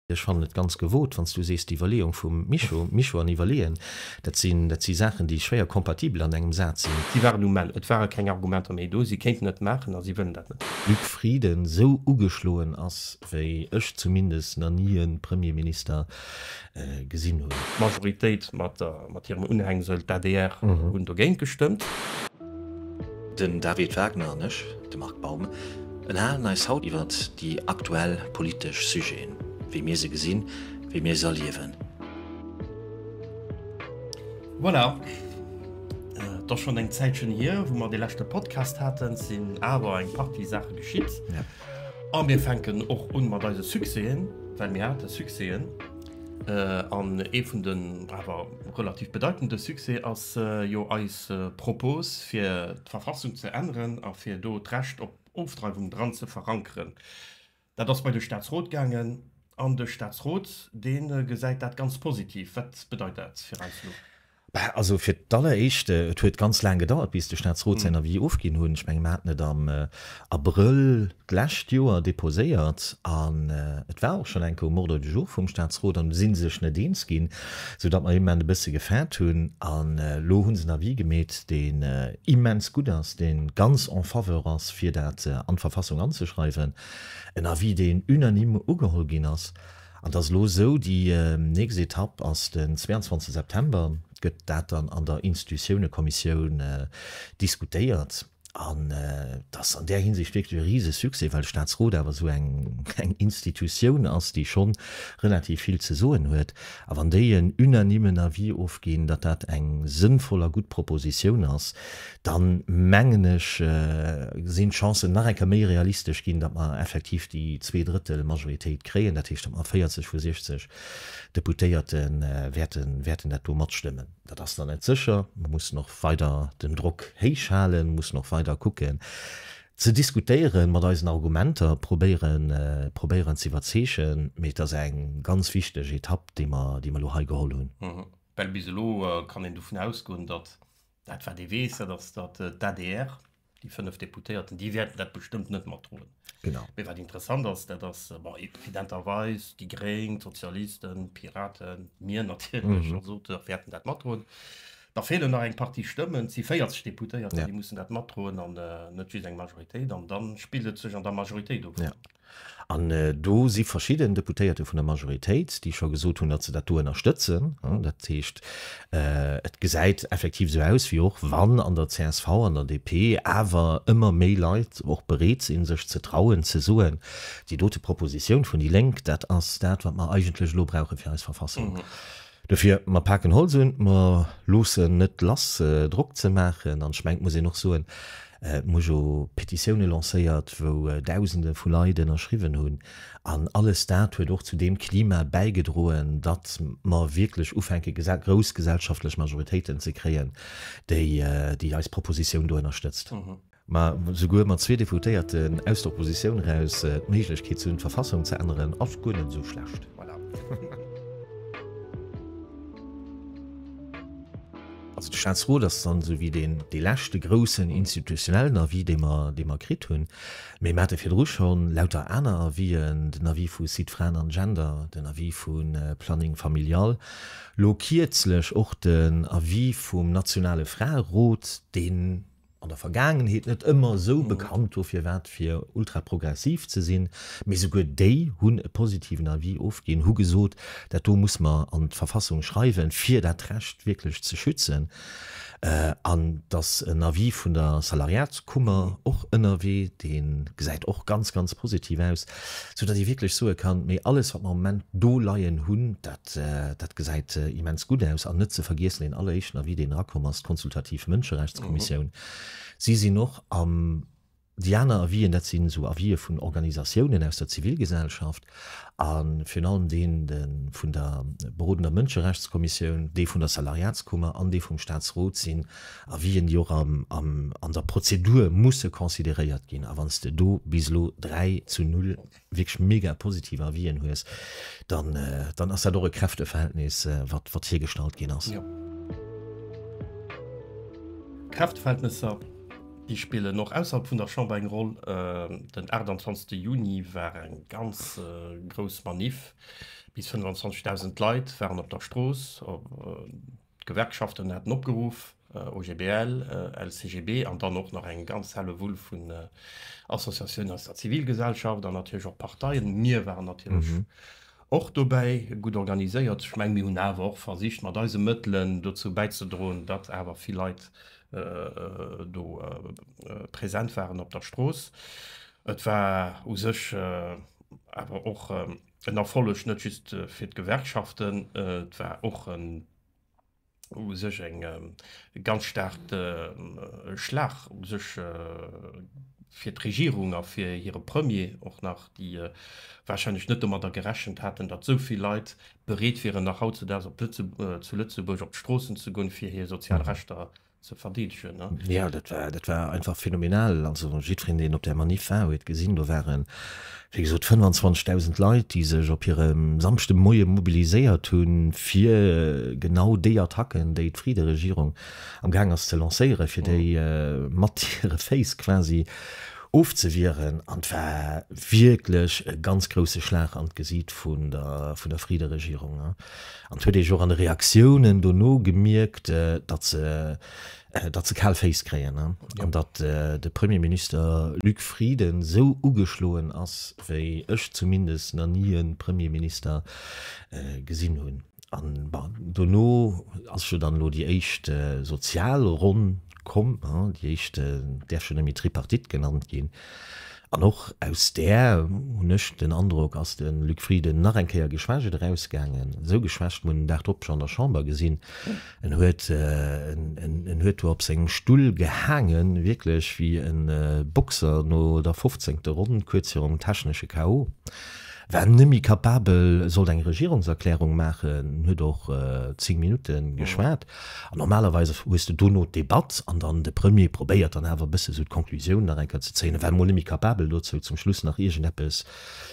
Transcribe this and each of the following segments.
Ech fannen et ganz gewot, wann s du sees, d'Iwwerleeung vum Mischo, Mischo an iwwerleeën, dat si si Saachen, déi schwéier compatibel an engem Saz sinn. Si waren um Ell, et ware keng Argumenter méi do. Si kéinten et maachen a si wëllen dat net. Luc Frieden, Esou ugeschloen ass, wéi ech zumindest nach ni e Premierminister gesinn hunn. D'Majoritéit mat hirem Unhängsel, d'ADR, hunn dogéint gestëmmt. Den David Wagner an ech, de Marc Baum, ënnerhalen eis haut iwwert déi aktuell politesch Sujeten, wéi mir se gesinn, wéi mir se erliewen. Voilà, et ass schonn eng Zäitchen hier, wou mer dee leschte Podcast haten. Et sinn awer eng Partie Saache geschitt a mir fänken och un mat eise Succèsen, well mir hate Succèsen. An ee vun den awer relativ bedeitende Succès ass jo eis D'Propose fir d'Verfassung ze änneren a fir do d'Recht op Ofdreiwung dran ze verankeren, dat ass bei de Staatsrot gaangen. An de Staatsrot, dee gesäit dat ganz positiv. Wat bedeit dat fir eis elo? Also fir d'alleréischt, et huet ganz laang gedauert, bis de Staatsrot säin Avis ofginn hunn. Ech menge mer haten et am Abrëll d'lescht Joer deposéiert an et war och schonn enke um Ordre du jour vum Staatsrot an si sech net eens ginn, soudatt mer immen e bësse gefäert hunn. An elo hu se en Avis gemeet, deen immens gutt ass, dee ganz en faveur ass, fir dat an d'Verfassung anzeschreiwen, en Avis, deen unanime ugeholl ginn ass. An et ass elo esou, déi nächst Etapp ass den 22 September, gëtt dat dann an der Institutiounekommissioun diskutéiert. An et ass an där Hinsicht wierklech e Risesuccès, well de Staatsrot awer esou eng Institutioun ass, déi schonn relativ vill ze soen huet. A wann déi en unanimen Avis ofginn, datt dat eng sënnvoll a gutt Propositioun ass, da mengen ech, sinn d'Chancen nach eng Kéier méi realistesch ginn, datt mer effektiv déi Zweedrëttelmajoritéit kréien, dat heescht, datt mer 40 vu 60 Deputéierte wäerten dat do matstëmmen. Dat ass nach net sécher. Mir mussen och weider den Drock héich halen. Mir mussen och weider kucken ze diskutéieren, mat eisen Argumenter probéieren, probéieren ze iwwerzeegen. Mee et ass eng ganz wichteg Etapp, déi mer, déi mer elo hei geholl hunn. Well bis elo kann een dovun ausgoen, datt dat, wat ee weess, dat ass, datt d'ADR, déi fënnef Deputéierten, déi wäerten dat bestëmmt net matdroen. Genau. Mee wat interessant ass, dat ass evidenterweis, déi Gréng, d'Sozialisten, d'Piraten, mir natierlech als Auteur wäerten dat matdroen. Da feelen nach eng Partie Stëmmen, et si 40 Deputéierter, déi mussen dat matdroen an net just eng Majoritéit. An da spillt et sech an der Majoritéit of. An do si verschidden Deputéierte vun der Majoritéit, déi scho gesot hunn, datt se dat do ënnerstëtzen. Dat heescht, et gesäit effektiv esou aus, wéi och wann an der csv, an der DP awer ëmmer méi Leit och bereet sinn, sech ze trauen ze soen, déi dote Propositioun vun déi Lénk, dat ass dat, wat mer eigentlech elo brauche fir eis Verfassung Dofir, mer paken Holz un, mer loossen net lass Drock ze maachen. An ech mengen, et muss een och soen, et hu jo Petitioune lancéiert, wou Dausende vu Leit ënnerschriwwen hunn. An alles dat huet och zu deem Klima bäigedroen, datt mer wierklech ufänke grouss gesellschaftlech Majoritéiten ze kréien, déi eis Propositioun do ënnerstëtzt. mä souguer mat zwee Deputéierten aus der Oppositioun eraus d'Méiglechkeet ze hunn, d'Verfassung ze änneren, ass guer net esou schlecht. Also de Staatsrot ass dann esou wéi deen, dee leschte groussen institutionellen Avis, dee mer, dee mer kritt hunn. Mee mer hate virdru scho lauter aner Avisen, den Avis vu Sites Fraen an Gender, den Avis vu Planning Familial, lo kierzlech och den Avis vum nationale Fraerot, deen, an der Vergaangenheet net ëmmer esou bekannt wor firwat fir ultraprogressiv ze sinn, mee souguer déi hunn e positiven Avis ofginn, hu gesot, dat do muss mer an d'Verfassung schreiwen, fir dat Recht wierklech ze schützen. An et ass en Avis vun der Salariatskummer och ënnerwee, dee gesäit och ganz, ganz positiv aus. Sou datt ee wierklech soe kann, mee alles wat mer am Moment do leien hunn, dat dat gesäit immens gutt aus. An net ze vergiessen, deen alleréischten Avis deen erakomm ass, d'konsultativ Mënscherechtskommissioun, si sinn och am, déi aner Avis'en dat sinn esou Avis'e vun Organisatiounen aus der Zivilgesellschaft a virun allem deen vun der berodender Mënscherechtskommissioun, dee vun der Salariatskummer an dee vum Staatsrot sinn a wéi en déi och an der Prozedur musse consideréiert ginn. A wann s de do bis elo dräi zu null wierklech mega positiv Avisen hues, dann ass dat och e Kräfteverhältnis, wat hiergestallt ginn ass. Kräfteverhältnesser, déi spillen och ausserhalb vun der Chamber eng Roll. Den 28 Juni war eng ganz grouss Maniff. Bis 25.000 Leit waren op der Strooss. D'Gewerkschaften haten opgeruff, OGBL, LCGB an dann och nach eng ganz Hellewull vun Associatiounen aus der Zivilgesellschaft an natierlech och Parteien, mir waren natierlech och dobäi, gutt organiséiert. Ech menge mir hunn awer och versicht mat eise Mëttelen dozou bäizedroen, datt awer vill Leit do present waren op der Strooss. Et war u sech awer och. En Erfolleg net just fir d'Gewerkschaften, et war och u sech e ganz staarke Schlag u sech fir d'Regierung a fir hire Premier och nach, déi warscheinlech net domadder gerechent haten, datt esou vill Leit bereet wieren, nach hautzedaags zu Lëtzebuerg op d'Stroossen ze goen, fir hir sozial Rechter ze verdeedegen. Jo, dat war, dat war einfach phänomenal. Also jiddwereen, deen op där Manif war, huet gesinn, do waren, wéi gesot, 25.000 Leit, déi sech op hirem Samschdemoie mobiliséiert hunn, fir genau déi Attacken, déi d'Fridderegierung amgaang ass ze lancéieren, fir déi mat hire Féiss quasi ofzewieren. An et war wierklech e ganz grouse Schlag an d'Gesiit vun der, vun der Fridderegierung. An et huet ee jo och an de Reaktiounen dono gemierkt, datt se, datt se kal Féiss kréien an datt de Premierminister Luc Frieden esou ugeschloen ass, wéi ech zumindest nach ni e Premierminister gesinn hunn. An, bon, dono ass jo dann elo déi éischt sozial Ronn komm, déi éischt däerf schonn net méi Tripartite genannt ginn, an och aus där, hunn ech den Androck, ass de Luc Frieden nach eng Kéier geschwächt erausgaangen, esou geschwächt, mir hunn den Dag drop scho an der Chamber gesinn, en huet, en huet do op sengem Stull gehaangen, wierklech wéi e Boxer no der fofzéngte Ronn, kuerz virum technesche KO, war net méi capabel, sollt eng Regierungserklärung maachen, huet och zéng Minutte geschwat. An normalerweis hues de dono d'Debatt an dann de Premier probéiert dann awer e bësse sou d'Conclusioun nach eng Kéier ze zéien. E war mol net méi capabel dozou zum Schluss nach iergendeppes,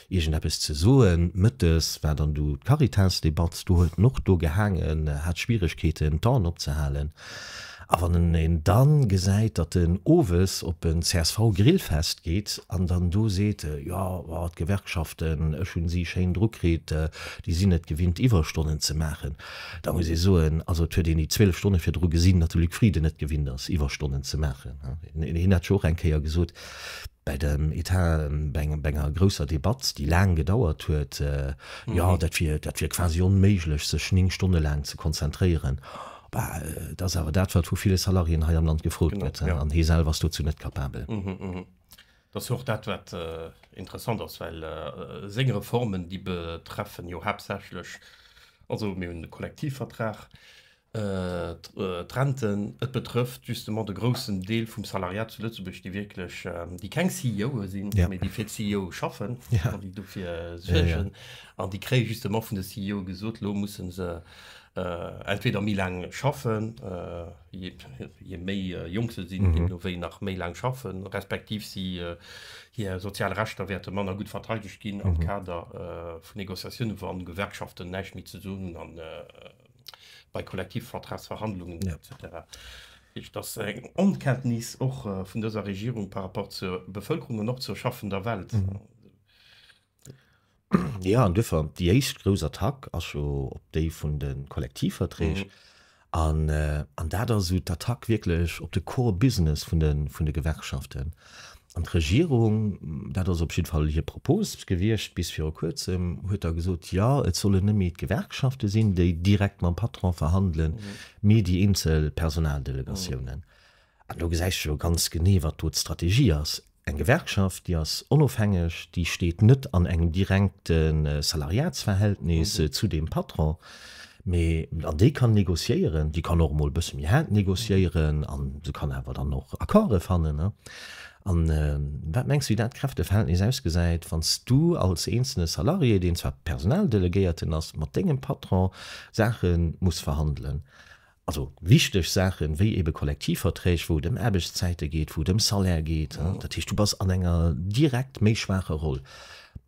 iergendeppes ze soen. Mëttes war dann do d'Caritas-Debatt, do huet en och do gehaangen, hat Schwieregkeeten d'Aen opzehalen. A wann een dann gesäit, datt en owes op en CSV-Grillfest geet an dann do seet, jo d'Gewerkschaften, ech hunn si schéin drukritt, déi sinn et gewinnt Iwwerstonnen ze maachen. Da muss ee soen, also et huet een déi 12 Stonne virdru gesinn, datt de Luc Frieden net gewinnt ass Iwwerstonnen ze maachen. Hien hat scho och eng Kéier gesot bei dem Etat, bei enger grousser Debatt, déi laang gedauert huet, jo dat wier, dat wier quasi onméiglech sech 9 Stonne laang ze konzentréieren. Et ass awer dat wat vu ville Salariéen hei am Land gefrot gëtt an hie selwer ass dozou net capabel. Dat ass jo och dat, wat interessant ass, well seng Reformen, déi betreffen jo haaptsächlech, also mir hunn de Kollektivvertrag, d'Renten, et betrëfft justement de groussen Deel vum Salariat zu Lëtzebuerg, déi wierklech, déi keng CEOe sinn, mee déi fir d'CEOe schaffen an déi dofir suergen. An déi kréie justement vun de CEOe gesot, elo musse se, Entweder méi laang schaffen, je méi jonk se sinn, deemno wéi nach méi laang schaffen, respektiv si hir sozial Rechter wäerte manner gutt verteidegt ginn am Kader vu Négociatiounen, wann d'Gewerkschaften näischt méi ze soen hunn a bei Kollektivvertragsverhandlungen etc. Heescht, dass eng Onkenntnis och vun dëser Regierung par rapport zur Bevëlkerung an och zur schaffender Welt. Ja, an duerfir déi éischt grouss Attack ass jo op déi vun de Kollektivverträg. An dat ass esou d'Attack wierklech op de Core Business vun de Gewerkschaften. An d'Regierung, dat ass op jiddwer Fall hir Propose gewiescht bis viru Kuerzem, huet da gesot, jo et sollen net méi d'Gewerkschafte sinn, déi direkt mam Patron verhandelen, mee déi eenzel Personaldelegatiounen. An do gesäis de jo ganz genee, wat do d'Strategie ass. Eng Gewerkschaft, déi ass onofhängeg, déi steet net an engem direkte Salariatsverhältnis zu deem Patron, mee an déi kann négociéieren, déi kann och emol e bësse méi haart négociéieren an se kann awer dann och Accorde fannen. An wat mengs du, wéi dat Kräfteverhältnis ausgesäit, wann s du als eenzelne Salarié, deen zwar Personaldelegéierten ass, mat dengem Patron Saache muss verhandelen? Also wichteg Saachen, wéi ebe Kollektivverträg, wou et ëm Aarbechtszäite geet, wou et ëm Salaire geet. Dat heescht, du bass an enger direkt méi schwaacher Roll.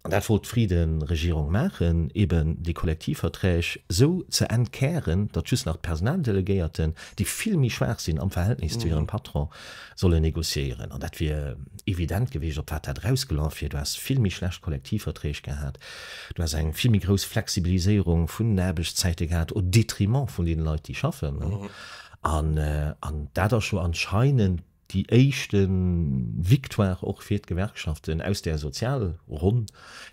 An dat wollt d'Frieden-Regierung maachen, eben déi Kollektivverträg esou ze entkären, datt just nach d'Personaldelegéierten, déi vill méi schwaach sinn am Verhältnis zu hirem Patron, solle negociéieren, an dat wier evident gewiescht, op wat dat erausgeloff wier. Du häss vill méi schlecht Kollektivverträg gehat, du häss eng vill méi grouss Flexibiliséierung vun den Aarbechtszäite gehat au détriment vun deene Leit, déi schaffen. An dat ass jo anscheinend déi éischte Victoire och fir d'Gewerkschaften aus där Sozialronn.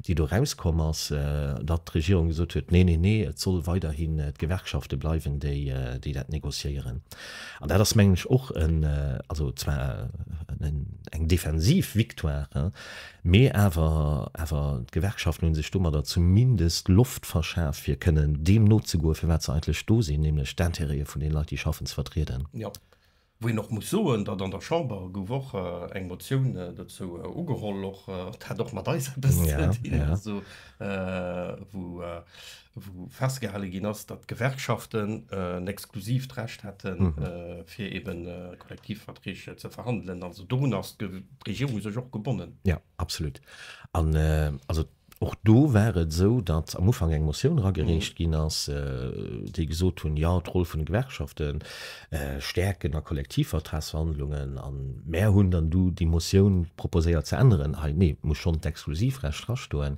déi do erauskomm ass, datt d'Regierung gesot huet, Nee, nee, nee, et soll weiderhin d'Gewerkschafte bleiwen, déi dat négociéieren. An dat ass, mengen ech, och en, also zwar eng defensiv Victoire, mee awer, awer d'Gewerkschaften hu sech domadder zumindest Loft verschaf, fir kënnen deem nozegoen, fir wat se eigentlech do sinn, nämlech d'Intérêtë vun deene Leit, déi schaffen, ze vertrieden. Wou een och muss soen, datt an der Chamber gouf och eng Motioun dozou ugeholl, och et hat och mat eis eppes ze dinn, also wou festgehale ginn ass, datt d'Gewerkschaften en exklusivt Recht hätten, fir eben Kollektivverträg ze verhandelen. Also dorunner ass d'Regierung sech och gebonnen. Jo, absolut. An also Och do war et esou, datt am Ufank eng Motioun eragereecht ginn ass, déi gesot hunn, jo, d'Roll vun de Gewerkschafte stäerken a Kollektivvertragsverhandlungen. A mär hunn dann du déi Motioun proposéiert ze änneren, hei, nee, et muss schonn d'Exklusivrecht drastoen.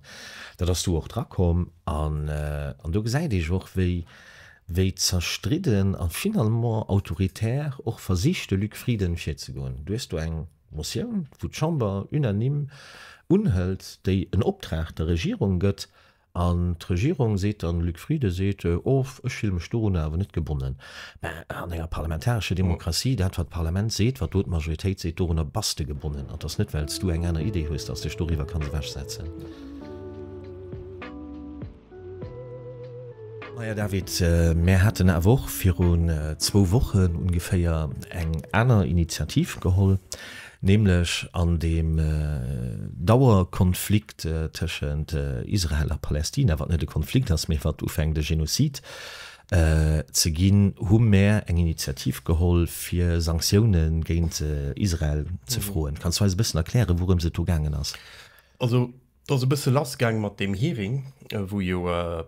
Dat ass du och drakomm. An do gesäit ee och, wéi zerstridden a finalement autoritär och versicht de Luc Frieden virzegoen. Du hues do eng Motioun, wou d'Chamber unanime unhëlt, déi en Optrag der Regierung gëtt, an d'Regierung seet dann, Luc Frieden seet, Oh, ech fille mech dorunner awer net gebonnen. Mä an enger parlamentarescher Demokratie, dat, wat d'Parlament seet, wat do d'Majoritéit seet, dorunner bass de gebonnen. An 't ass net, well s du eng aner Idee hues, dass s de dech doriwwer kanns ewechsetzen. Maja David, mär haten awer och virun zwou Wochen ongeféier eng aner Initiativ geholl, nämlech an deem Dauerkonflikt tëschent Israel a Palästina, wat net e Konflikt ass, mee wat ufänkt e Genozid ze ginn, hu mär eng Initiativ geholl fir Sanktioune géint Israel ze froen. Kanns du eis e bëssen erklären, wourëms et do gaangen ass? Et ass e bësse lass gaang mat deem Hearing, wou jo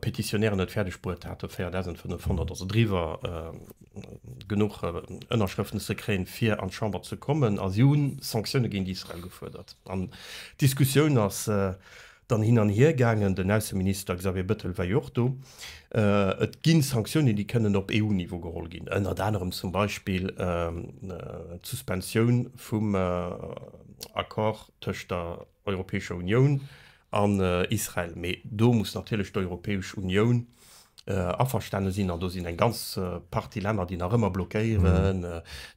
Petitionären et fäerdeg bruet haten, 4.500, also driwwer, genuch Ënnerschrëften ze kréien, fir an d'Chamber ze kommen. A si hu Sanktioune géint Israel gefuerdert. An d'Diskussioun ass dann hin an hier gaangen. Den Ausseminister Xavier Bettel war jo och do. Et gi Sanktiounen, déi kënnen op EU-Niveau geholl ginn, ënnert anerem zum Beispill d'Suspensioun vum Accord tëscht der Europäescher Unioun an Israel. Mee do muss natierlech d'Europäesch Unioun averstane sinn. An do sinn eng ganz Partie Länner, déi nach ëmmer blockéieren,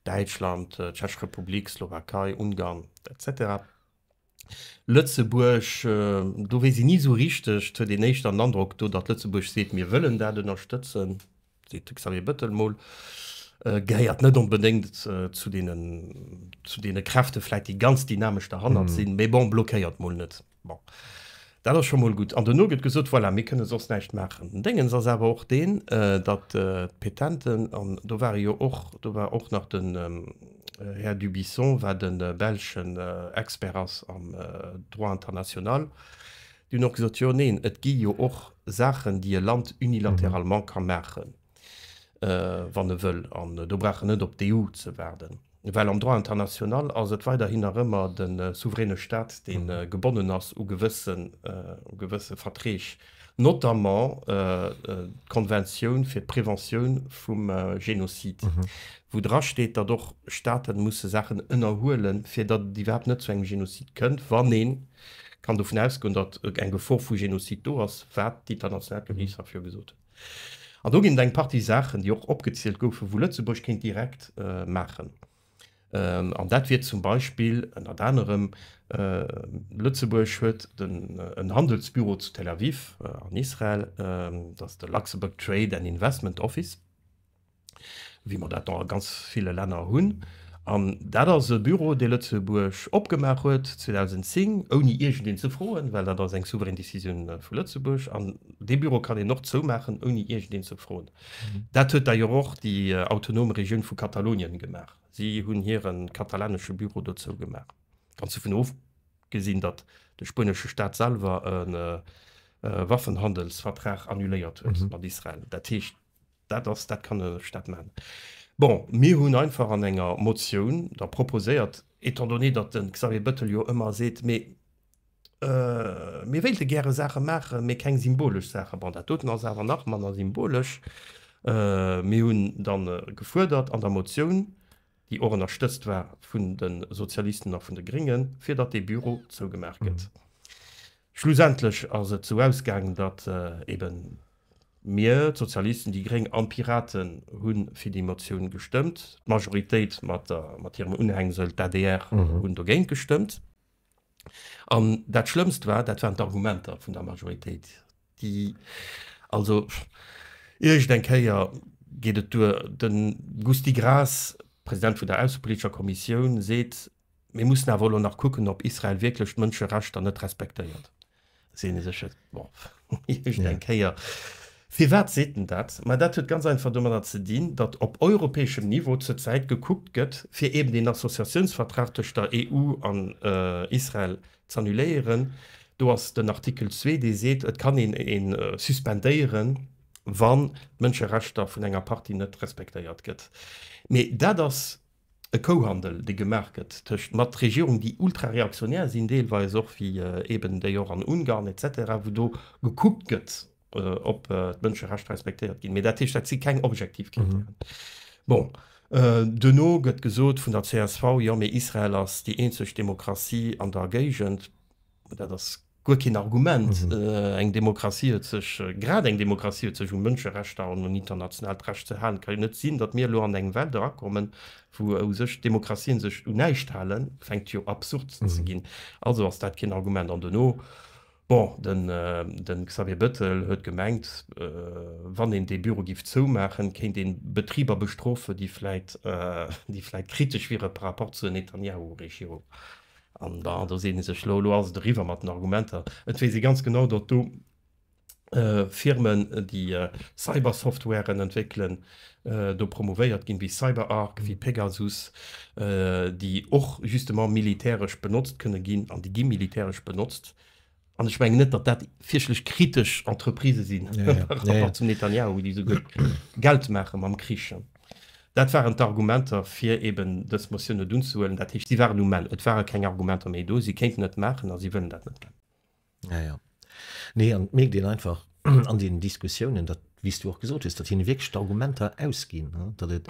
Däitschland, d'Tschech Republik, Slowakei, Ungarn, etc. Lëtzebuerg, do weess een ni esou richteg, et huet een éischter den Androck do, datt Lëtzebuerg seet, mir wëllen dat ënnerstëtzen. seet de Xavier Bettel mol, gehéiert net onbedéngt zu deene Kräfte vläit, déi ganz dynamesch derhannert sinn, mee bon, blockéiert mol net. Bon, dat ass scho mol gutt. An dono gëtt gesot, voilà, mir kënne soss näischt maachen. Den Déngens ass awer och deen, datt d'Petenten, an do ware jo och, do war och nach den Här Dubuisson, wat e belschen Expert ass am Droit international, Déi hunn och gesot, jo, neen, et gi jo och Saachen, déi e Land unilateralement ka maachen, wann e wëll, an do brauch en net op d'EU ze waarden, well am Droit international ass et weiderhin nach ëmmer de souveräne Stat, dee gebonnen ass u gewësse Verträg, notamment d'Konventioun fir d'Preventioun vum Genozid, wou drasteet, datt och Staate musse Saachen ënnerhuelen, fir datt et iwwerhaapt net zu engem Genozid kënnt, wann een. kann dovun ausgoen, datt eng Gefor vu Genozid do ass, wat d'international Geriicht hat virgesot hunn. An do ginn et eng Partie Saachen, déi och opgezielt goufen, wou Lëtzebuerg kéint direkt maachen. An dat wier zum Beispill, ënnert anerem, Lëtzebuerg huet en Handelsbüro zu Tel Aviv an Israel, dat ass de Luxembourg Trade and Investment Office, wéi mer dat a ganz ville Länner hunn. An dat ass e Büro, dee Lëtzebuerg opgemaach huet 2010, ouni iergendeen ze froen, well dat ass eng souverän Decisioun vu Lëtzebuerg. An dee Büro kann een och zoumaachen, ouni iergendeen ze froen. Dat huet d'ailleurs och déi autonom Regioun vu Katalonien gemaach. Si hunn hire katalanesche Büro do zougemaach. Ganz dovun ofgesinn, datt de spuenesche Staat selwer e Waffenhandelsvertrag annuléiert huet mat Israel. Dat heescht. Dat ass, dat kann een elf, dat man. Bon, mir hunn einfach an enger Motioun da proposéiert, étant donné, datt de Xavier Bettel jo ëmmer seet, mee mir wéilte gäre Saache maachen, mee keng symbolesch Saache. Bon, dat doten ass awer nach manner symbolesch. Mir hunn dann gefuerdert an der Motioun, déi och ënnerstëtzt war vun de Sozialisten a vun de Gréngen, fir datt dee Büro zougemaach gëtt. Schlussendlech ass et esou ausgaang, datt eeben Mir, d'Sozialisten, déi gréng an d'Piraten, hu fir déi Motioun gestëmmt. D'Majoritéit mat hirem Unhängsel, d'ADR, hunn dogéint gestëmmt. An dat Schlëmmst war, dat waren d'Argumenter vun der Majoritéit, déi also, iergendeng Kéier geet et duer, de Gusty Graas, President vun der aussepolitescher Kommissioun, seet, Mir mussen awer elo nach kucken, ob Israel wierklech d'Mënscherechter net respektéiert. Sinn ee sech et, bon, iergend eng Kéier. Firwat seet en dat? Ma dat huet ganz einfach domadder ze dinn, datt op europäeschem Niveau zur Zäit gekuckt gëtt, fir eben deen Associatiounsvertrag tëscht der EU an Israel z'annuléieren. Do ass den Artikel zwee, dee seet, et kann een e suspendéieren, wann d'Mënscherechter vun enger Partie net respektéiert gëtt. Mee dat ass E Kouhandel dee gemaach gëtt tëscht mat Regierungen déi ultra reaktionär sinn deelweis och, wéi eben déi och an Ungarn et cetera, wou do gekuckt gëtt ob d'Mënscherechter respektéiert ginn. Mee dat heescht dat si keng objektiv Krittären. Bon, duerno gëtt gesot vun der csv, jo mee Israel ass déi eenzeg Demokratie an der Géigend. Dat ass guer keen Argument. Eng Demokratie huet sech, grad eng Demokratie huet sech un Mënscherechter an un internationaalt Recht ze halen. Et ka jo net sinn, datt mir elo an eng Welt erakommen, wou u sech d'Demokratien sech un näischt halen, fänkt jo absurd ze ginn. Also ass dat keen Argument. An duerno, bon, den Xavier Bettel huet gemengt, wann een dee Büro giff zoumaachen, kéint een Betriber bestrofen, déi vläit, déi vläit kritesch wieren par rapport zur Netanjahu-Regierung. An da seet ee sech, Lo ass et eriwwer mat den Argumenter. Et weess ee ganz genau, datt do Firmen, déi Cybersoftwaren entwéckelen, do promouvéiert ginn, wéi CyberArk, wéi Pegasus, déi och justement militäresch benotzt kënne ginn, an déi gi militäresch benotzt. an ech mengen net, datt dat fierchtlech kritesch Entreprisë sinn zum Netanjahu, wéi déi esou gutt Geld maache mam Krich. Dat waren d'Argumenter, fir eben dës Motioun net unzehuelen. Dat heescht, si waren um Enn, et ware keng Argumenter méi do, si kéinten et maachen a si wëllen dat net. Nee, an et mierkt een einfach, an deenen Diskussiounen, datt, wéi s Du och gesot hues, datt hinne wierklech d'Argumenter ausginn, datt et,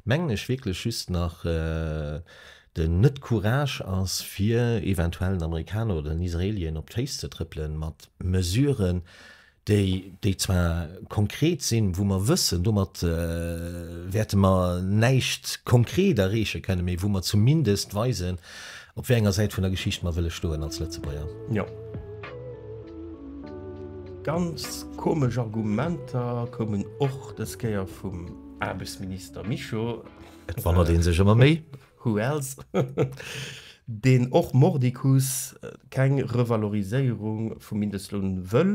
mengen ech, wierklech just nach den Net-Courage ass, fir eventuell den Amerikaner oder den Israelien op d'Féiss ze trëppele mat Mesuren, déi, déi zwar konkret sinn, wou mer wëssen, domat wäerte mer näischt konkret erreeche kënnen, mee wou mer zumindest weisen, Op wéi enger Säit vun der Geschicht mer wëlle stoen als Lëtzebuerger. Jo. Ganz komesch Argumenter koumen och des Kéier vum Aarbechtsminister Mischo. Et wonnert een sech ëmmer méi. Who else? Deen och mordicus keng Revaloriséierung vum Mindestloun wëll.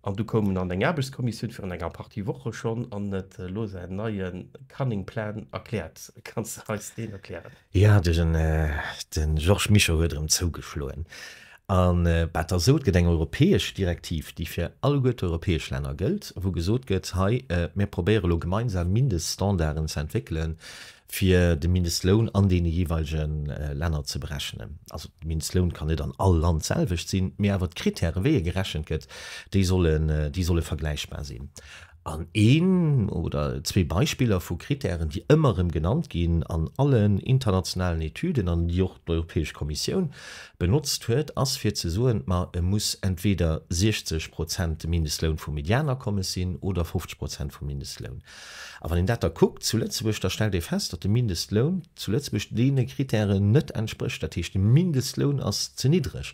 An du koum en an eng Aarbechtskommissioun virun enger Partie Woche schonn an et elo säin neie Cunning Plan erkläert. Kanns de eis deen erklären? Jo, de Georges Mischo huet erëm zougeschloen. A wat der sot, gëtt eng europäesch Direktiv, déi fir alleguer d'europäesch Länner gëllt, wou gesot gëtt, hei, mir probéiere elo gemeinsam Mindeststandarden ze entwéckelen, fir de Mindestloun an deene jeeweilege Länner ze berechnen. Also de Mindestloun kann net an all Land d'selwecht sinn, mee awer d'Krittäre wéi e gerechent gëtt, déi sollen, déi solle vergläichbar sinn. An een oder zwee Beispiller vu Krittären, déi ëmmer erëm genannt ginn an allen internationalen Etüden an déi och d'Europäesch Kommissioun benotzt huet, ass fir ze soen, ma e muss entweder 60 Prozent de Mindestloun vum Medianakommes sinn oder 50 Prozent vum Mindestloun. A wann een dat da kuckt zu Lëtzebuerg, da stellt ee fest, datt de Mindestloun zu Lëtzebuerg deene Kritären net entsprécht. Dat heescht, de Mindestloun ass ze niddreg.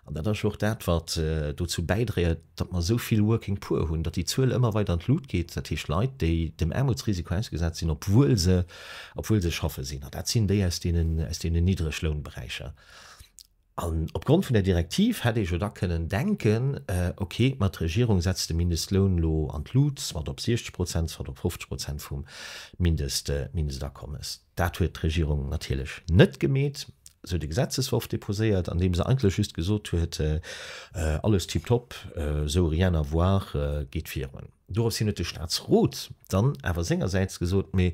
An dat ass jo och dat, wat dozou bäidréiert, datt mer esou vill Working Poor hunn, datt déi Zuel ëmmer weider an d'Lut geet, dat heescht Leit, déi dem Aarmutsrisiko ausgesat sinn, obwuel se, obwuel se schaffe sinn. An dat sinn déi aus deenen, aus deenen Niddreglounberäicher. An opgrond vun der Direktiv hätt ee jo da kënnen denken, ok, ma d'Regierung setzt de Mindestloun elo an d'Lut, soit op 60 Prozent, soit op 50 Prozent vum Mindestakommes. Dat huet d'Regierung natierlech net gemeet. Si huet e Gesetzesworf deposéiert, an deem se eigentlech just gesot huet, alles tiptop, esou rien à voir, geet virun. Doropshin huet de Statsrot dann awer sengersäits gesot, mee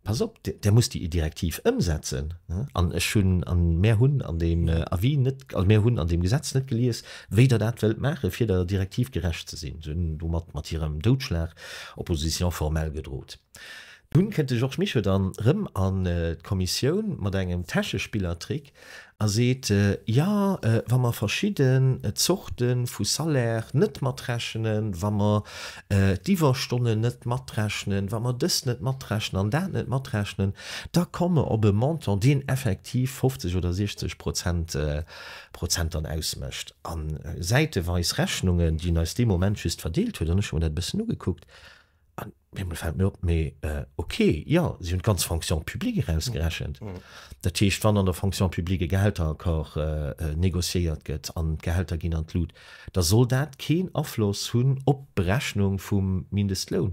Pass op, där musst déi Direktiv ëmsetzen. An ech hunn, a mär hunn an deem Avis net, also mär hunn an deem Gesetz net gelies, wéi Der dat wëllt maachen, fir der Direktiv gerecht ze sinn. Se hunn domat, mat hirem Doudschlag, Opposition formelle gedrot. Dunn kënnt de Georges Mischo dann erëm an d'Kommissioun mat engem Täschespillertrick, A seet, Jo, wa mer verschidde Zorte vu Salaire net matrechnen, wa mer d'Iwwerstonnen net matrechnen, wa mer dëst net matrechnen an dat net matrechnen, da komme mer op e Montant, deen effektiv 50 oder 60 Prozent dann ausmécht. A säiteweis Rechnungen, déi en eis dee Moment just verdeelt huet, an ech hu mer dat e bëssen ugekuckt, An deemol fällt mir op, mee ok, jo, si hunn d'ganz Fonction publique erausgerechent. Dat heescht, wann an der Fonction publique e Gehälteraccord négociéiert gëtt an d'Gehälter ginn an d'Lut, da soll dat keen Afloss hunn op d'Berechnung vum Mindestloun.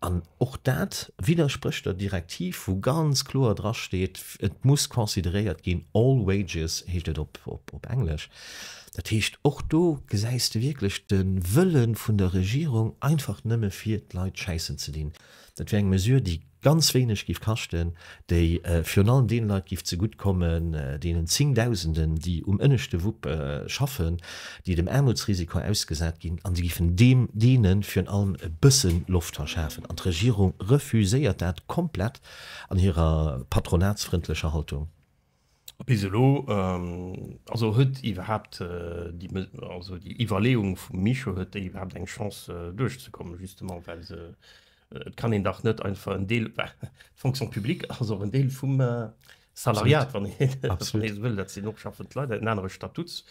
An och dat widdersprécht der Direktiv, wou ganz kloer drasteet, et muss consideréiert ginn, all wages heescht et op Englesch. Dat heescht, och do gesäis de wierklech de Wëlle vun der Regierung, einfach nëmme fir d'Leit schäissen ze dinn. Dat wier eng Mesure, déi ganz wéineg géif kaschten, déi virun allem deene Leit géif zegutt kommen, deenen Zéngdausenden, déi um ënneschte Wupp schaffen, déi dem Aarmutsrisiko ausgesat ginn, an se géifen deene virun allem e bësse Loft verschafen. An d'Regierung refuséiert dat komplett an hirer patronatsfrëndlecher Haltung. Bis elo also huet iwwerhaapt déi Mes also déi Iwwerleeung vum Micho, huet déi iwwerhaapt eng Chance duerchzekommen, justement well se et kann een dach net einfach en Deel d'Fonction publique ass och en Deel vum Salariat, wann ee wann ee esou wëll, dat sinn och schaffend Leit, en anere Statuts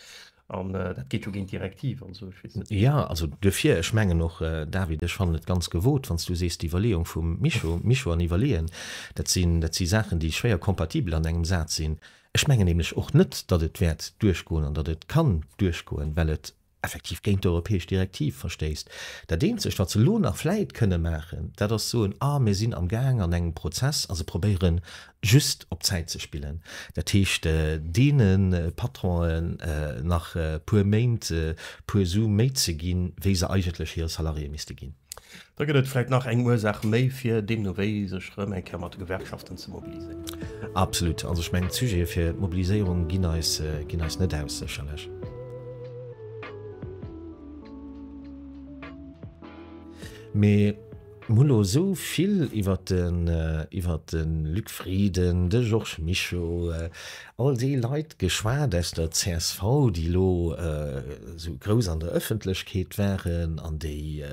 An dat geet jo géint d'Direktiv an esou, ech weess net. Jo, also duerfir, ech mengen och, David, ech fannen et ganz gewot, wann s du sees, d'Iwwerleeung vum Mischo, Mischo an iwwerleeën, dat sinn, dat si Saachen, déi schwéier kompatibel an engem Saz sinn. Ech mengen nämlech och net, datt et wäert duerchgoen an datt et kann duerchgoen, well et effektiv géint d'europäesch Direktiv verstéisst. Dat Eenzegt, wat se elo nach vläit kënne maachen, dat ass soen, Ah, mir sinn amgaang an engem Prozess a se probéieren just op Zäit ze spillen, dat heescht deene Patronen nach e puer Méint e puer Su méi ze ginn, wéi se eigentlech hire Salariéë misste ginn. Da gëtt et vläicht nach eng Ursaach méi, fir deemno wéi sech erëm eng Kéier mat de Gewerkschaften ze mobiliséieren. Absolut. Also ech mengen, d'Sujete fir d'Mobiliséierung ginn eis net aus, sécherlech. Mee. Mir hunn elo esou vill iwwert de, iwwert de Luc Frieden, de Georges Mischo, all déi Leit geschwat aus der csv, déi elo esou grouss an der Öffentlechkeet waren an déi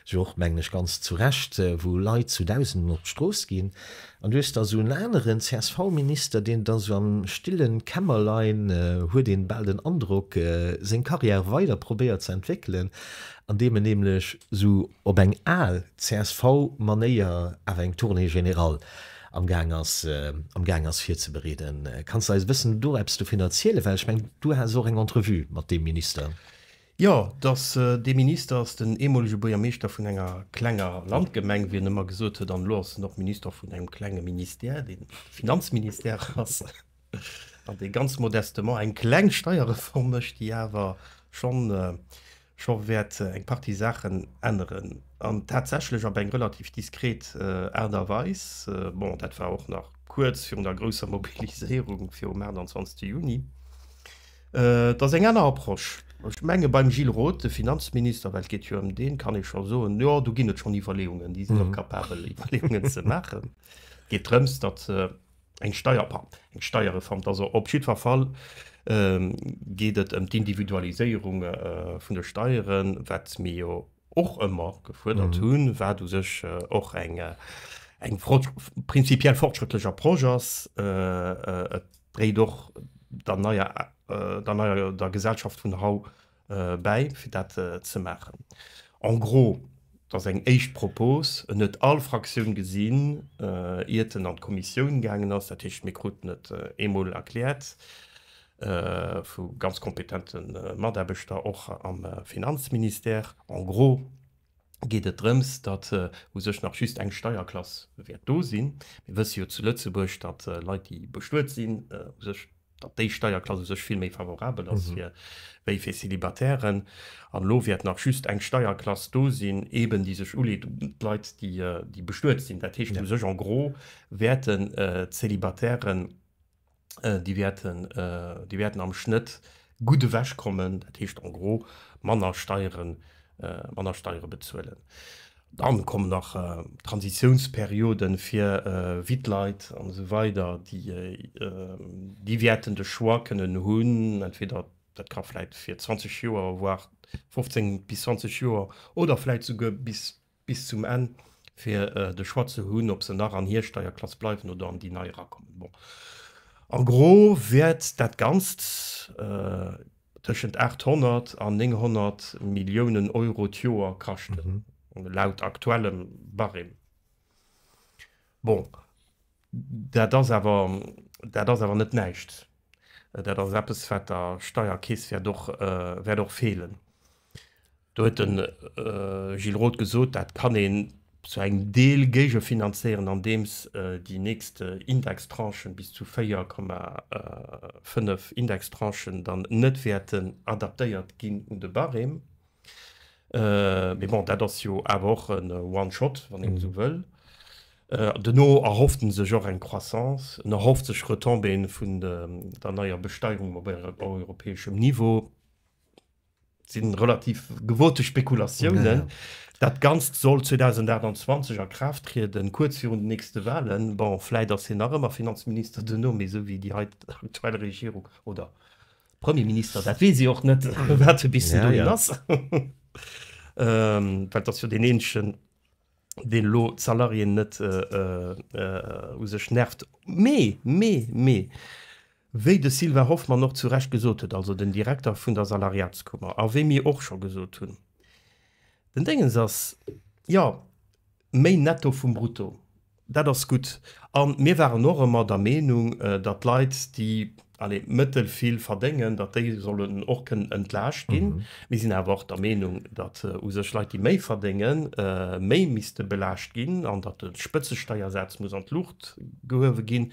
jo och, mengen ech, ganz zu Recht, wou Leit zu Dausenden op d'Strooss ginn. An du hues da esou en aneren CSV-Minister, deen et da esou am stillen Kämmerlein, huet ee bal den Androck, seng Karriär weider probéiert ze entwéckelen andeem en nämlech sou op eng al csv Manéier awer eng Tournée générale am gaang ass am gaang ass virzebereeden. Kanns de eis e bëssen do eppes dovun erzielen? Well ech mengen du has och eng Entrevue mat deem Minister. Jo, dass dee Minister ass den eemolege Buergermeeschter vun enger klenger Landgemeng, wéi en ëmmer gesot huet, an elo ass en och Minister vun engem klenge Ministère, dee Finanzministère ass. an dee ganz modestement eng kleng Steierreform mécht, déi awer scho wäert eng Partie Saachen änneren, an tatsächlech op eng relativ diskret Aart a Weis. Bon, dat war och nach kuerz virun der grousser Mobiliséierung virum 28 Juni. Et ass eng aner Approche. Ech menge beim Gilles Roth, de Finanzminister, well et geet jo ëm deen, kann ee scho soen, jo, do ginn et schonn Iwwerleeungen, déi sinn och capabel, Iwwerleeungen ze maachen. Et geet drëms, datt Eng Steier, pah, eng Steierreform, 't ass se op jiddwer Fall. Geet et ëm d'Individualiséierung vun de Steieren, wat mir jo och ëmmer gefuerdert hunn, wat u sech och eng prinzipiell fortschrëttlecher Proche ass. Et dréit och der neier, der neier, der Gesellschaft vun haut. bäi fir dat ze maachen. En gros, dat ass eng éischt Propos, en huet all Fraktioun gesinn, iert en an d'Kommissioun gaangen ass. Dat heescht, mir kruten et eemol erkläert vu ganz kompetente Mataarbechter, och am Finanzministère. En gros. geet et drëms, datt u sech nach just eng Steierklass wäert do sinn. Mir wësse jo zu Lëtzebuerg, datt Leit, déi bestuet sinn, u sech, datt déi Steierklass u sech vill méi favorabel ass fir wéi fir Célibatairën. An elo wäert nach just eng Steierklass do sinn, eben déi sech uleet un d'Leit, déi bestuet sinn. Dat heescht u sech en gros wäerten d'Célibatairën déi wäerten, déi wäerten am Schnëtt gutt ewech kommen, dat heescht en gros manner Steiere, manner Steiere bezuelen. Dann kommen nach Transitiounsperioden fir witt Leit an esou weider, déi, déi wäerten de Choix kënnen hunn, entweder dat ka vläit fir 20 Joer, voire 15 bis 20 Joer oder vläit souguer bis Bis zum Enn, fir de Choix ze hunn, ob se nach an hir Steierklass bleiwen oder an déi nei erakommen. Bon, en gros wäert dat Ganzt tëschent 800 an 900 Milliounen Euro d'Joer kaschten, laut aktuellem Barème. Bon. Dat ass awer, dat ass awer net näischt. Dat ass eppes, wat der Steierkeess wäert och, wäert och feelen. Do huet de Gilles Roth gesot, dat kann een zu engem Deel géigefinanzéieren, andeems déi nächst Indextranchen, bis zu 4,5 Indextranchen, dann net wäerten adaptéiert ginn un de Barème. Mee bon, dat ass jo awer och en One-Shot, wann een esou wëll. Duerno erhofft en sech och eng Croissance, en erhofft sech Retombéeën vun der neier Besteierung op europäeschem Niveau. Dat si relativ gewote Spekulatiounen. Dat Ganzt soll 2028 a Kraaft trieden, kuerz virun den nächste Walen. Bon, vläit ass hien nach ëmmer Finanzminister duerno, mee esou wéi déi aktuell Regierung oder Premierminister, dat weess ee och net, wat e bis dohin ass, well et ass jo deen eenegen, deen elo d'Salariéen net u sech nervt. Mee, mee, mee, wéi de Sylvain Hoffmann och zu Recht gesot huet, also den Direkter vun der Salariatskummer, a wéi mir och scho gesot hunn, den Déngens ass jo méi Netto vum Brutto. Dat ass gutt. A mir waren och ëmmer der Meenung, datt Leit, déi, allez, mëttel vill verdéngen, datt déi sollen och kënnen entlaascht ginn. Mir sinn awer och der Meenung, datt u sech Leit, déi méi verdéngen, méi misste belaascht ginn an datt de Spëtzesteiersaz muss an d'Luucht gehuewe ginn.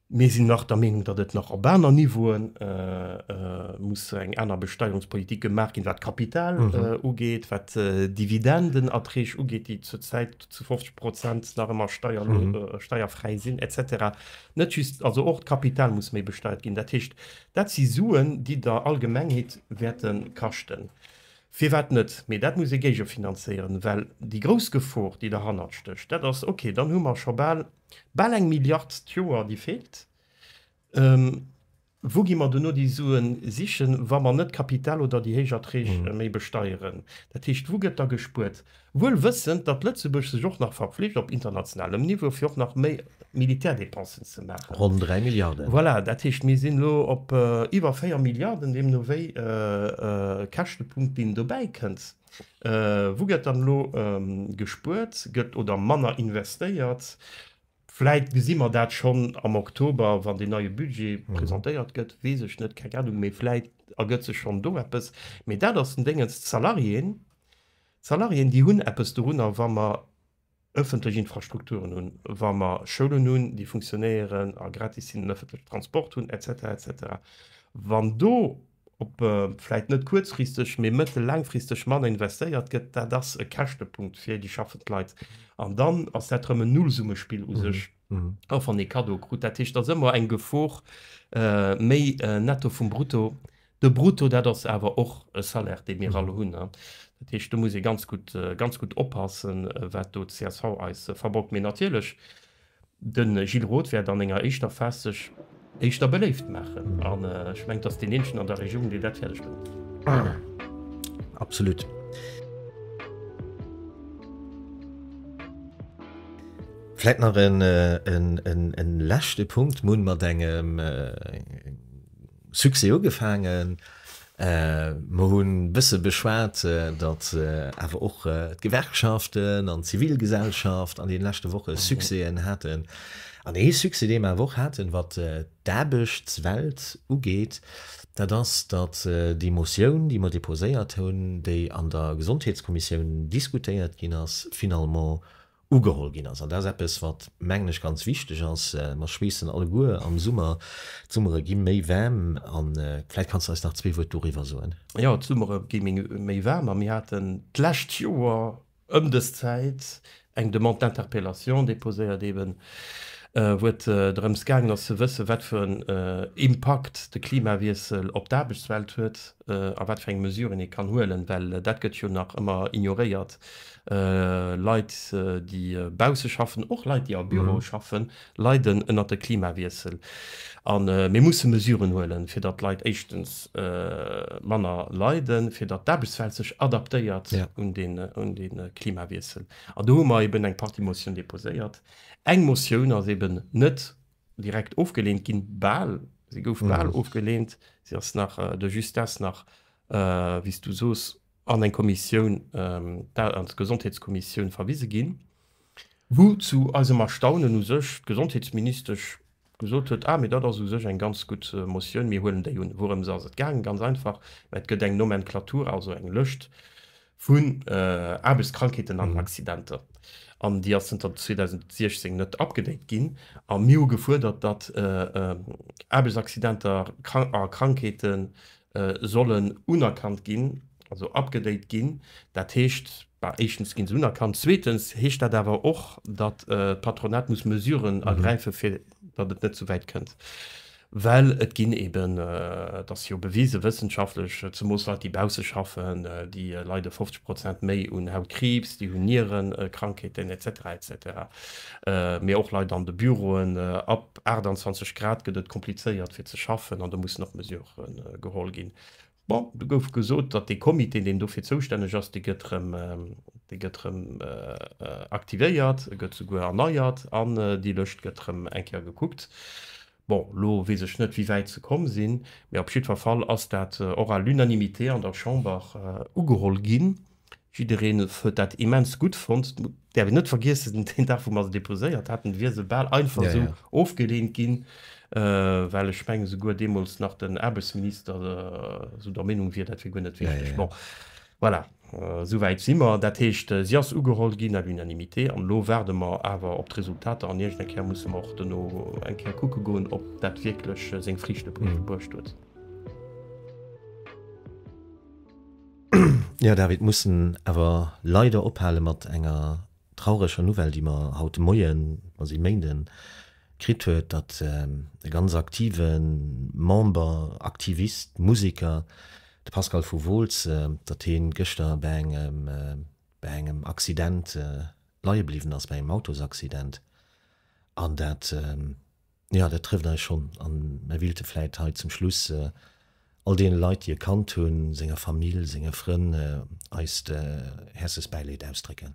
Mir sinn nach der Meenung, datt et nach op aner Niveaue muss eng aner Besteierungspolitik gemaach ginn, wat d'Kapital ugeet, wat d'Dividendenerträg ugeet, déi zur Zäit zu 50 Prozent nach ëmmer steierfräi sinn, et cetera. Net just, also och d'Kapital muss méi besteiert ginn. Dat heescht, dat si Suen, déi der Allgemengheet wäerte kaschten. Firwat net? Mee dat muss ee géigefinanzéieren, well déi grouss Gefor, déi derhannert stécht, dat ass, okay, dann hu mer scho bal, Bal eng Milliard d'Joer, déi feelt. Wou gi mer duerno déi Suen sichen, wa mer net d'Kapital oder déi héich Erträg méi besteieren? Dat heescht, wou gëtt da gespuert? Wuel wëssend, datt Lëtzebuerg sech och nach verpflicht, op internationalem Niveau, fir och nach méi Militärdépensen ze maachen. Ronn 3 Milliarden. Voilà, dat heescht, mir sinn elo op iwwer 4 Milliarden, deemno wéi Käschtepunkt, deen dobäi kënnt. Wou gëtt dann elo gespuert gëtt oder manner investéiert? Vläit gesi mer dat schonn am Oktober, wann deen neie Budget presentéiert gëtt, weess ech net, keng Anung. Mee vläit ergëtt sech schonn do eppes. Mee dat ass den Déngens, d'Salariéen, d'Salariéen déi hunn eppes dorunner, wa mer ëffentlech Infrastrukturen hunn, wa mer Schoulen hunn, déi funktionéieren a gratis sinn, en ëffentlechen Transport hunn, et cetera, et cetera. Wann do op vläit net kuerzfristeg, mee mëttel-, laangfristeg manner investéiert gëtt, dat ass e Käschtepunkt fir déi schaffend Leit. An dann ass dat erëm en Nullsummespill u sech, och wann ee Kaddo krut. Dat heescht, et ass ëmmer eng Gefor, méi Netto vum Brutto De Brutto, dat ass awer och e Salaire, dee mir all hunn. Dat heescht, do muss ee ganz gutt, ganz gutt oppassen, wat do csv eis verborgt. Mee natierlech, de Gilles Roth wäert an enger éischter Phas sech éischter beléift maachen. An ech mengen, et ass deen eenzegen an der Regierung, deen dat fäerdeg bréngt. Absolutt. Vläit nach e leschte Punkt, Mun, mat engem Succès ugefaangen. Mer hunn e bësse beschwat, datt awer och d'Gewerkschaften an d'Zivilgesellschaft an deene leschte Woche Succèsen haten. An ee Succès, dee mer awer och haten, wat d'Aarbechtswelt ugeet, dat ass, datt déi Motioun, déi mer deposéiert hunn, déi an der Gesondheetskommissioun diskutéiert ginn ass, finalement ugeholl ginn ass. An dat ass eppes, wat, mengen ech, ganz wichteg ass. Mer schweessen alleguer am Summer, d'Summere gi méi waarm. A vläicht kanns de eis nach zwee Wuert doriwwer soen. Jo, d'Summere gi méi waarm a mir haten d'lescht Joer ëm dës Zäit eng Demande d'interpellation deposéiert, eben wou et drëms gaangen ass ze wëssen, wat fir en Impakt de Klimawiessel op d'Aarbechtswelt huet. a wat fir eng Mesuren ee kann huelen, well dat gëtt jo nach ëmmer ignoréiert, Leit, déi bausse schaffen, och Leit, déi a Büroe schaffen, leiden ënnert de Klimawiessel. A mir musse Mesuren huelen, fir datt d'Leit éischtens manner leiden, fir datt d'Aarbechtswelt sech adaptéiert un de Klimawiessel. An do hu mer eeben eng Partie Motioun deposéiert. Eng Motioun ass eeben net direkt ofgeleent ginn, bal, se gouf bal ofgeleent, se ass nach de Justesse nach, wéi s du soos, an eng Kommissioun, an d'Gesondheetskommissioun verwise ginn, wou zu eisem Erstaunen u sech d'Gesondheetsministesch gesot huet, ah, mee dat ass u sech eng ganz gutt Motioun, mir huelen déi un. Wourëms ass et gaangen? Ganz einfach, mä et gëtt eng Nomenklatura, also eng Lëscht vun Aarbechtskrankheeten an Accidenter, an déi ass zënter 2016 net upgedate ginn. A mir hu gefuerdert, datt Aarbechtsaccidenter a Krankheete sollen unerkannt ginn, also upgedate ginn. Dat heescht, éischtens gi se unerkannt, zweetens heescht dat awer och, datt d'Patronat muss Mesuren ergräife fir datt et net souwäit kënnt, well et ginn eben, et ass jo bewise wëssenschaftlech, zemoos Leit, déi bausse schaffen, déi leide 50 Prozent méi un Hautkriibs, déi hunn Nierenkrankheeten et cetera et cetera. Mee och Leit an de Büroen, ab 28 Grad gëtt et komplizéiert fir ze schaffen an do mussen och Mesurë geholl ginn. Bon, do gouf gesot, datt dee Comité, deen dofir zoustänneg ass, dee gëtt erëm, dee gëtt erëm aktivéiert, e gëtt souguer erneiert an déi Lëscht gëtt erëm eng Kéier gekuckt. Bon, elo weess ech net, wéi wäit se komm sinn, mee op jiddwer Fall ass dat och à l'unanimité an der Chamber ugeholl ginn. Jiddereen huet dat immens gutt fonnt. Däerf een net vergiessen, deen Dag, wou mer se deposéiert haten, wier se bal einfach esou ofgeleent ginn, well ech mengen, souguer deemools nach den Aarbechtsminister esou der Meenung wier, dat wier guer net wichteg. Bon, voilà, souwäit si mer. Dat heescht, si ass ugeholl ginn à l'unanimité. An elo waarde mer awer op d'Resultater an iergend eng Kéier musse mer och dono eng Kéier kucke goen, ob dat wierklech seng Friichte bruecht huet. Jo David, mussen awer leider ophale mat enger traureger Nouvelle déi mer haut de Moien, mer si Méinden, kritt huet, datt e ganz aktive Member, Aktivist, Museker, de Pascal vu Wooltz, datt heen gëschter bäi engem, bäi engem Accident leie bliwwen ass, bäi engem Autosaccident an dat, Jo, dat trëfft eis schonn. A mir willte vläit hei zum Schluss all deene Leit, déi e kannt hunn, senger Famill, senge Frënn, eist häerzlechst Bäileed ausdrécken.